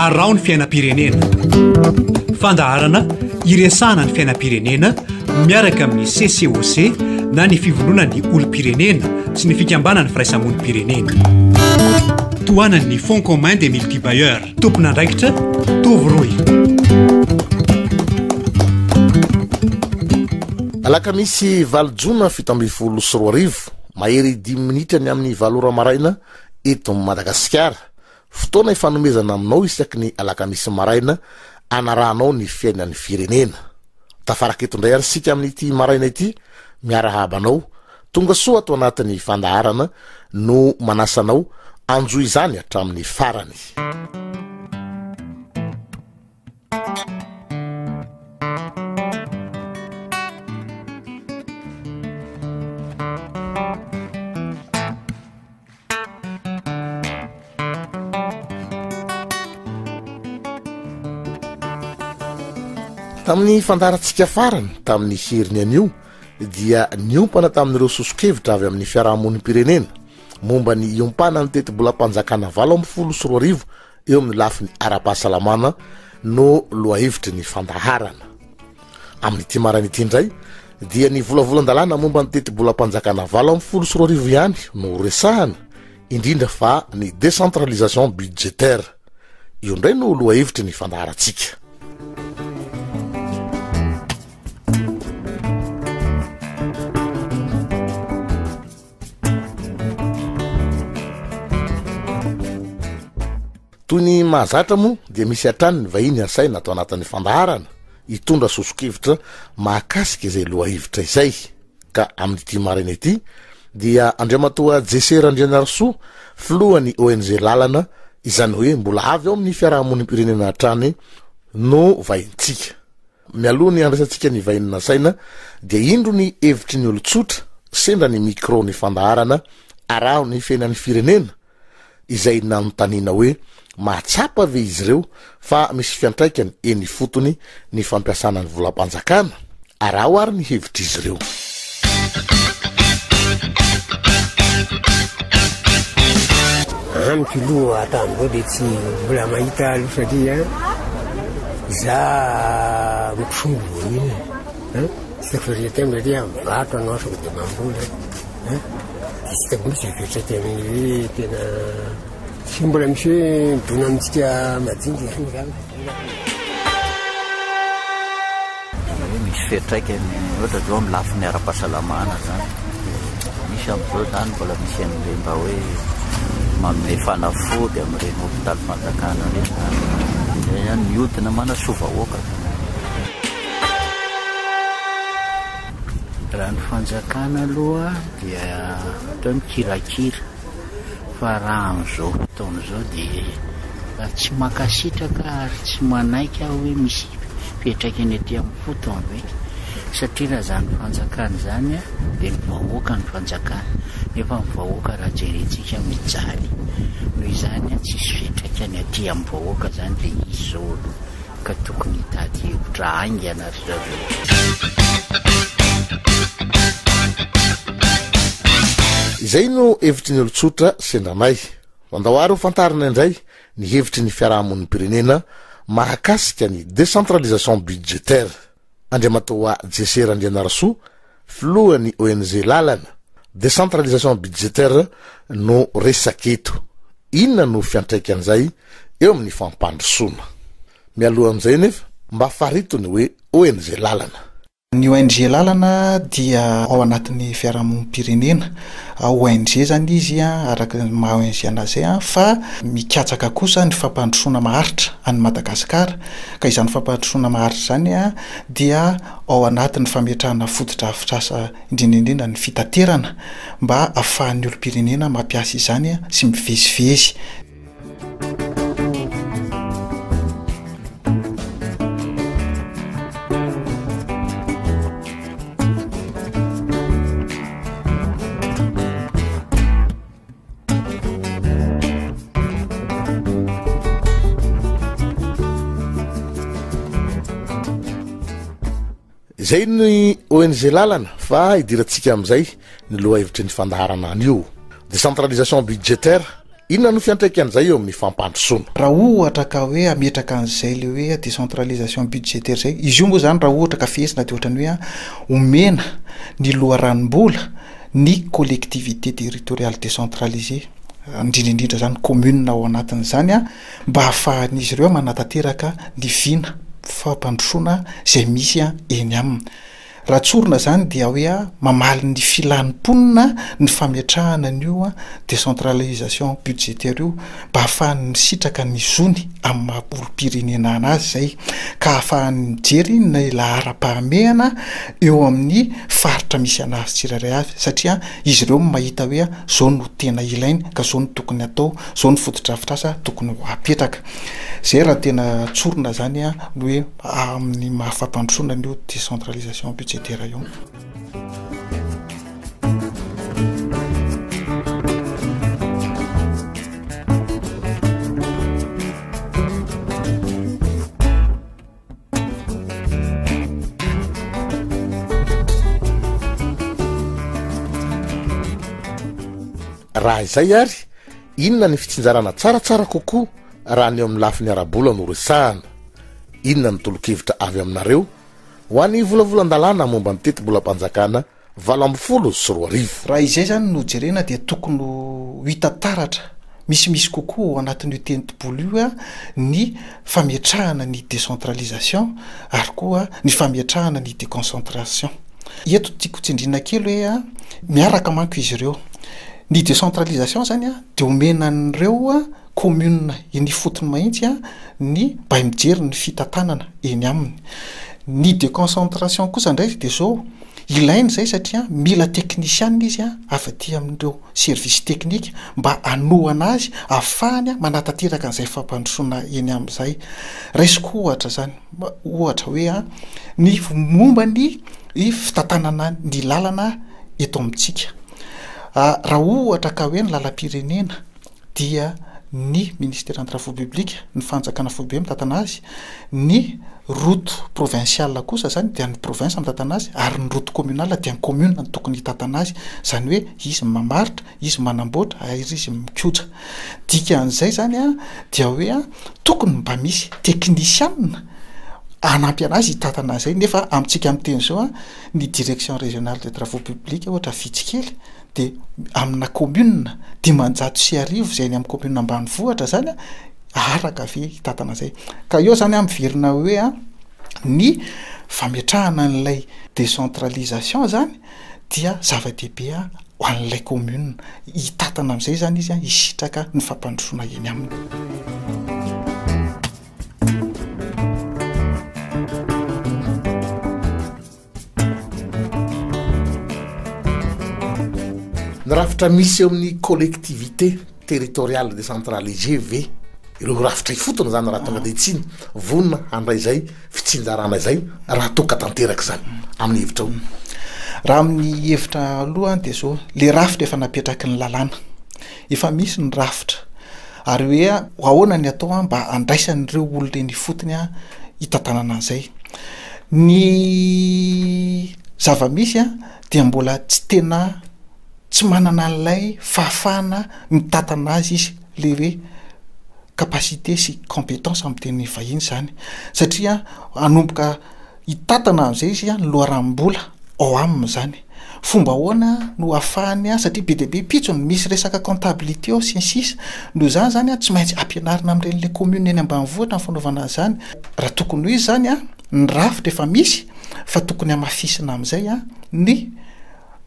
Araho ny fiainam-pirenena. Fandaharana iresahana ny fiainam-pirenena miaraka amin'ny CCOC na ny fivondronan'ny olom-pirenena sy ny fikambanan'ny firaisamonim-pirenena. Tohanan'ny Fonds commun des multibailleurs. Tompon'andraikitra Tovo Roy. Alakamisy valo jona fito ambin'ny folo sy roa arivo. Mahery dimy minitra ny amin'ny valo ora maraina eto Madagasikara. Fotoana ifanomezana aminao isaky ny alakamisy maraina anarahanao ny fiainan'ny firenena. Tafaraka eto indray ary isika amin'ity maraina ity miarahaba anao. Tonga soa ato anatin'ny fandaharana no manasa anao anjo izany hatramin'ny farany. tamin'ny fandarantsika farany tamin'ny heriny anio dia niompana tamin'ireo soso-kevitra avy amin'ny fiarahamonim-pirenena momba ny iompanany tetibolam-panjakana valo amin'ny folo sy roa arivo eo amin'ny lafiny ara-pahasalamana no lohahevitry ny fandaharana. Amin'ity maraina ity indray dia ny volavolan-dalàna momba ny tetibolam-panjakana valo amin'ny folo sy roa arivo ihany no resahana, indrindra fa ny décentralisation budgétaire. Io indray no lohahevitry ny fandaharantsika. Toy ny mahazatra moa dia misy hatrany ny vahiny asaina atao anatin'ny fandaharana hitondra sosokevitra mahakasika izay lohahevitra izay ka amin'ity maraina ity dia Andriamatoa Jesse Randrianarisoa filohan'ny ONG Lalana izany hoe mbola avy ao amin'ny fiarahamonim-pirenena hatrany no vahintsika. Mialoha ny handraisantsika ny vahiny nasaina dia indro ny hevitry ny olon-tsotra sendra ny micro ny fandaharana Araho ny fiainan'ny firenena izay nanontaniana hoe mahatsapa ve izy ireo fa misy fiantraikany eny ifotony ny fampiasana ny volam-panjakana? Araho ary ny hevitr'izy ireo. Amiko aloha hatramizao dia tsy mbola mahita aloha satria za misolo voanina tsy tiko farintem satria mivarotra no asako dia mamboly dia tsy hitako mihitsy fiantraikany hoe tena tsy mbola misy hoe midona amintsika madinika zany zany Misy fiantraikany ohatra zao amin'ny lafiny ara-pahasalamana zany. Misy amin'izao zany mbola misy an'ireny mba hoe manome fanafody amin'ireny hopitaly fanjakana ireny zany. Zay zany miodina manasoa vahoaka zany. Raha ny fanjakana aloha dia atao mikirakira. fa raha amin'izao fotoana izao dia tsy mankasitraka ary tsy manaiky aho hoe misy hipetraka eny aty amin'ny fotony ve? satria raha izany fanjakana izany dia ny vahoaka no fanjakana nefa ny vahoaka raha jerentsika mijaly, noho izany tsisy fiantraikany aty amin'ny vahoaka izany ilay izy izao aloha. ka tokony hitady hevitra haingana ry zareo. Izay no hevitry ny olon-tsotra sendra anay. Mandao àry ho fantarina indray ny hevitry ny fiarahamonim-pirenena mahakasika ny décentralisation budgétaire. Andriamatoa Jesse Randrianarisoa, filohan'ny ONG Lalana, décentralisation budgétaire no resaka eto. Inona no fiantraikan'izay eo amin'ny fampandrosoana? Mialohan'izay anefa, mba farito ny hoe ONG Lalana. Ny ONG Lalana dia ao anatin'ny fiarahamonim-pirenena. ONG izany izy araka ny maha ONG an'azy izay fa mikatsaka kosa ny fampandrosoana maharitra an'i Madagasikara. ka izany fampandrosoana maharitra izany dia ao anatin'ny fametrahana fotodrafitrasa indrindra indrindra ny fitaterana mba ahafahan'ny olom-pirenena mampiasa izany sy mivezivezy. Izay ny ONG lalana fa hidirantsika amin'izay ny loha hevitry ny fandaharana an'io décentralisation budgétaire inona no fiantraikan'izay eo amin'ny fampandrosoana raha ohatra ka hoe ametraka an'izay le hoe décentralisation budgétaire zay izy io moa zany raha ohatra ka fihetsina de ohatran'ny hoe omena ny loharanom-bola ny collectivités territoriales décentralisées, indrindra indrindra izany commune ao anatin'izany, mba hahafahan'izy ireo manatanteraka ny vina fampandrosoana izay misy eny aminy. Raha tsorina izany dia hoe mamaly ny filan'ny mponina ny fametrahana an'io décentralisation budgétaire io. mba hahafahany misitraka ny zony amin'ny maha olom-pirenena anazy izay ka hahafahany mijery ny laharam-pahamehana eo amin'ny faritra misy anazy tsirairay avy satria izy ireo no mahita hoe izao no tena ilainy ka izao no tokony hatao, izao no fotodrafitrasa tokony ho apetraka. Izay raha tena tsorina izany ny hoe amin'ny maha fampandrosoana an'io décentralisation budgétaire io. raha izay ary inona ny fitsinjarana tsaratsara kokoa raha ny eo amin'ny lafi ny ara-bola no resahana inona ny tolokevitra avy aminareo Ho an'ny volavolan-dalàna momba ny tetibolam-panjakana valo ambin'ny folo sy roa arivo. Raha izay izany no jerena dia tokony ho hita taratra misimisy kokoa ao anatin'io tentibolo io ny fametrahana ny décentralisation ary koa ny fametrahana ny déconcentration. Eto tiako tsindriana kely hoe miaraka manko izy ireo. Ny décentralisation izany dia omena an'ireo. Commune eny ifotony mahintsy ny bay mijery ny fitantanana eny aminy. Ny deconcentration kosa indray dia izao, ilaina izay satria mila teknisiana izy avy aty amin'ireo service teknika mba hanohana azy hahafahany manatanteraka an'izay fampandrosoana eny amin'izay. Raisiko ohatra izany, ohatra hoe ny momba ny fitantanana ny lalana eto amintsika. Raha ohatra ka hoe ny lalam-pirenena, dia ny Ministera Antrafo Publika, ny Fanjakana Foibe mitantana azy, ny Route Provinciale kosa izany dia ny Province mitantana azy ary ny Route Communale dia ny Commune no tokony hitantana azy, izany hoe izy no mamaritra, izy no manamboatra ary izy no mikoja. Dikan'izay izany dia hoe tokony mba misy teknisianina hanampy an'azy hitantana an'izay nefa amintsika miteny izao ny Direction Régionale des Travaux Publics ohatra vitsy kely, dia amina kaominina dimanjato sy arivo izay any amin'ny kaominina ambanivohitra izany an, araka ve hitantana izay? Ka eo izany an miverina hoe an, ny fametrahana an'ilay décentralisation izany dia zava-dehibe ho an'ilay kaominina, hitantana amin'izay izany izy an, hisitraka ny fampandrosoana eny aminy. Ny rafitra misy eo amin'ny collectivité territoriale décentralisée ve ireo rafitra ifotony zany raha tonga de tsy vonona handray zay fitsinjarana izay raha toa ka tanteraka izany amin'ny hevitrao? Raha amin'ny hevitra aloha dia zao, le rafitra efa napetraky ny lalàna Efa misy ny rafitra, ary hoe ahoana ny atao mba handraisan'ireo olona eny ifotony hitantanana an'izay. Ny zava-misy dia mbola tsy tena tsy manana an'ilay fahafahana mitantana azy izy, ilay hoe capacité sy compétence amin'ny teny vahiny izany satria hanomboka. Hitantana amin'izay izy ny loharanom-bola ao aminy izany. Fomba ahoana no hahafahany an, satria be dia be pitsy ny misy resaka comptabilité ao sy ny sisa. Noho izany izany tsy maintsy ampianarina amin'ireny le commune eny ambanivohitra ny fanaovana an'izany. Raha tokony ho izy izany an, ny rafitra efa misy fa tokony hamafisina amin'izay ny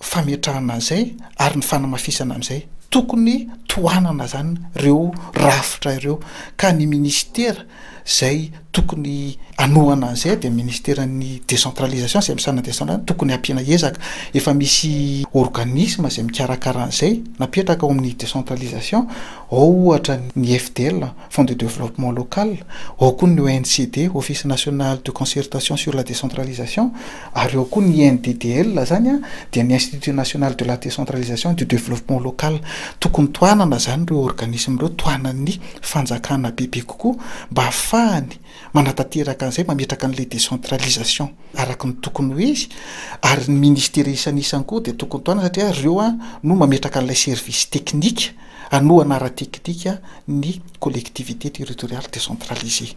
fametrahana an'izay ary ny fanamafisana amin'izay. Tokony tohanana izany ireo rafitra ireo ka ny ministera izay tokony hanohana an'izay dia ministeran'ny décentralisation izay misahana ny décentralisation tokony hampiana ezaka, efa misy organisme izay mikarakara an'izay napetraka ao amin'ny décentralisation, ao ohatra ny FDL, Fonds de développement local, ao koa ny ONCD, Office national de concertation sur la décentralisation. Ary ao koa ny INDDL izany an, dia ny Institut National de la Décentralisation et du Développement Local. Tokony tohanana izany ireo organismes ireo, tohanan'ny fanjakana bebe kokoa mba hahafahany manatanteraka an'izay, mametraka an'ilay décentralisation araka ny tokony ho izy. Ary ny ministera isanisany koa dia tokony tohanana satria ry ireo no mametraka an'ilay service technique hanohana ara-teknika ny collectivités territoriales décentralisées.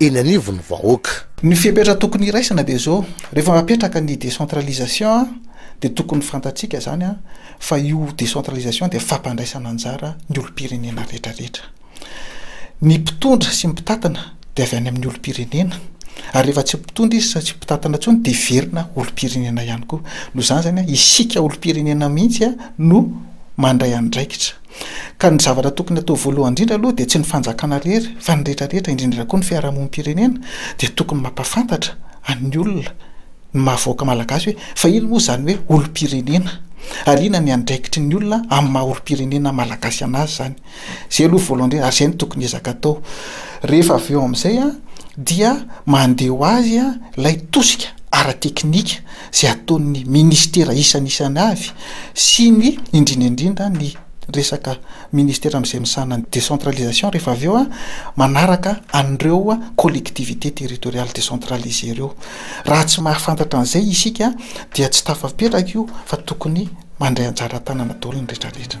eny anivon'ny vahoaka. Ny fepetra tokony hiraisana dia izao, rehefa mapetraka ny décentralisation dia tokony fantatsika izany an, fa io décentralisation dia fampandraisana anjara ny olom-pirenena retraretra. Ny mpitondra sy ny mpitatana dia avy any amin'ny olom-pirenena, ary rehefa tsy mpitondra izy sa tsy mpitatana intsony dia hiverina olom-pirenena ihany koa. Noho izany izany an, isika olom-pirenena mihitsy an no mandray andraikitra. Ka ny zavatra tokony hatao voalohany indrindra aloha dia tsy ny fanjakana rery fa ny rehetra rehetra indrindra koa ny fiarahamonim-pirenena dia tokony mampafantatra an'ny olona ny maha vahoaka malagasy hoe fa ino moa izany hoe olom-pirenena ary inona ny andraikitry ny olona amin'ny maha olom-pirenena malagasy anazy izany izay aloha voalohany indrindra ary izay no tokony ezaka atao rehefa avy eo amin'izay dia mandeha ho azy ilay tosika ara-teknika izay ataon'ny ministera isanisany avy sy ny indrindra indrindra ny resaka ministera amin'izay misahana ny décentralisation rehefa avy eo a manaraka an'ireo collectivités territoriales décentralisées ireo raha tsy mahafantatra an'izay isika dia tsy tafapetraka io fa tokony mandray anjara tanana daholo ny retraretra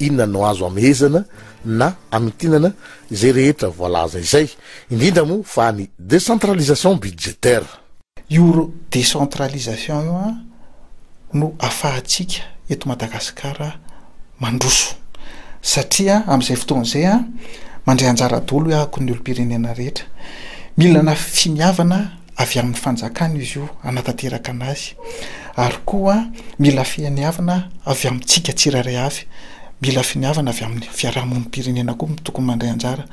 Inona no azo amehezana na amintinana izay rehetra voalaza izay, indrindra moa fa ny décentralisation budgétaire? Io décentralisation io no afahantsika eto Madagasikara mandroso satria amin'izay fotoana izay mandray anjara daholo hoy aho ny olom-pirenena rehetra. Mila finiavana. avy amin'ny fanjakana izy io hanatanteraka anazy ary koa mila fihaniavana avy amintsika tsirairay avy, mila finiavana avy amin'ny fiarahamonim-pirenena koa tokony mandray anjara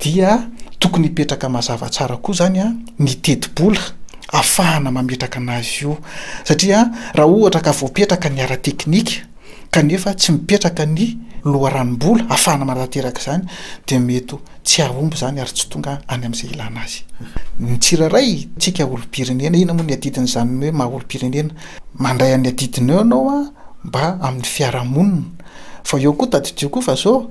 dia tokony hipetraka mazava tsara koa izany a ny tetibola afahana mametraka anazy io satria raha ohatra ka voapetraka ny ara-teknika kanefa tsy mipetraka ny loharanom-bola hahafahana manatanteraka izany dia mety ho tsy hahomby izany ary tsy tonga any amin'izay ilana azy ny tsirairay tsika olom-pirenena. Inona moa ny adidin'izany hoe maha olom-pirenena? Mandray an'ny adidinao ianao mba amin'ny fiarahamonina fa eo koa tadidio koa fa zao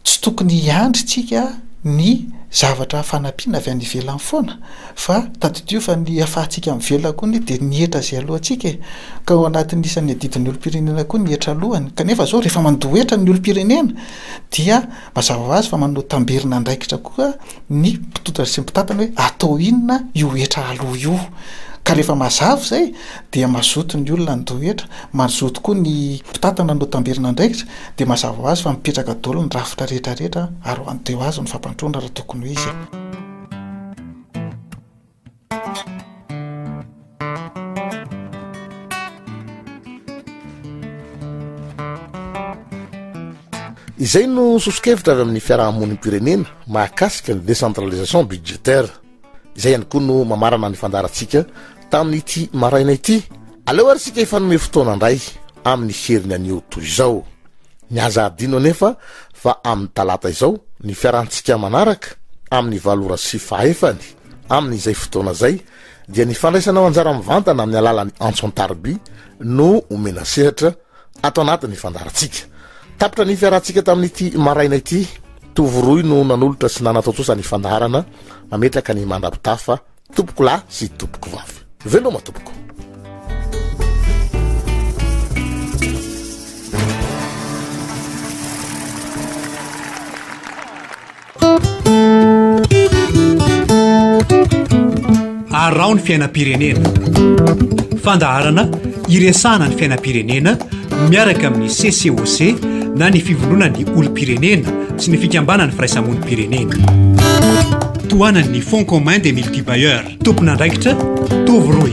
Tsy tokony hiandry tsika ny zavatra fanampiana avy any ivelany foana fa tadidio fa ny afahantsika mivelona koa anie dia ny hetra izay aloha antsika e! Ka ao anatin'ny isan'ny adidin'ny olom-pirenena koa ny hetra alohany. Kanefa izao rehefa mandoa hetra ny olom-pirenena dia mazava ho azy fa manao tamberina andraikitra koa ny mpitodra sy ny mpitantana hoe atao inona io hetra aloha io? Ka rehefa mazava izay dia mazoto ny olona ny rehetra, mazoto koa ny mpitantana no tamberina andraikitra, dia mazava ho azy fa mipetraka daholo ny rafitra rehetra rehetra ary ho an'i Deo azy ny fampandroana raha tokony hoe izy e. Izay no soso-kevitra avy amin'ny fiaraha-monim-pirenena mahakasika ny décentralisation budgétaire. Izay ihany koa no mamarana ny fandaharantsika tamin'ity maraina ity. Aleo ary isika hifanome fotoana indray amin'ny heriny anio toy izao. Ny aza adino anefa fa amin'ny talata izao ny fiarantsika manaraka amin'ny valo ora sy fahefany. Amin'izay fotoana izay dia ny fandraisanao anjara mivantana amin'ny alalan'ny antso an-tarobia no omena sehatra ato anatin'ny fandaharantsika. Tapitra ny fiarahantsika tamin'ity maraina ity, Tovo Roy no nanolotra sy nanatontosa ny fandaharana mametraka ny mandrapitafa tompoko lahy sy tompoko vavy. Veloma tompoko. Araho ny fiainam-pirenena. Fandaharana iresahana ny fiainam-pirenena miaraka amin'ny CCOC na ny fivondronan'ny olom-pirenena sy ny fikambanan'ny firaisamonim-pirenena. Tohanan'ny Fonds commun des multibailleurs. Tompon'andraikitra Tovo Roy.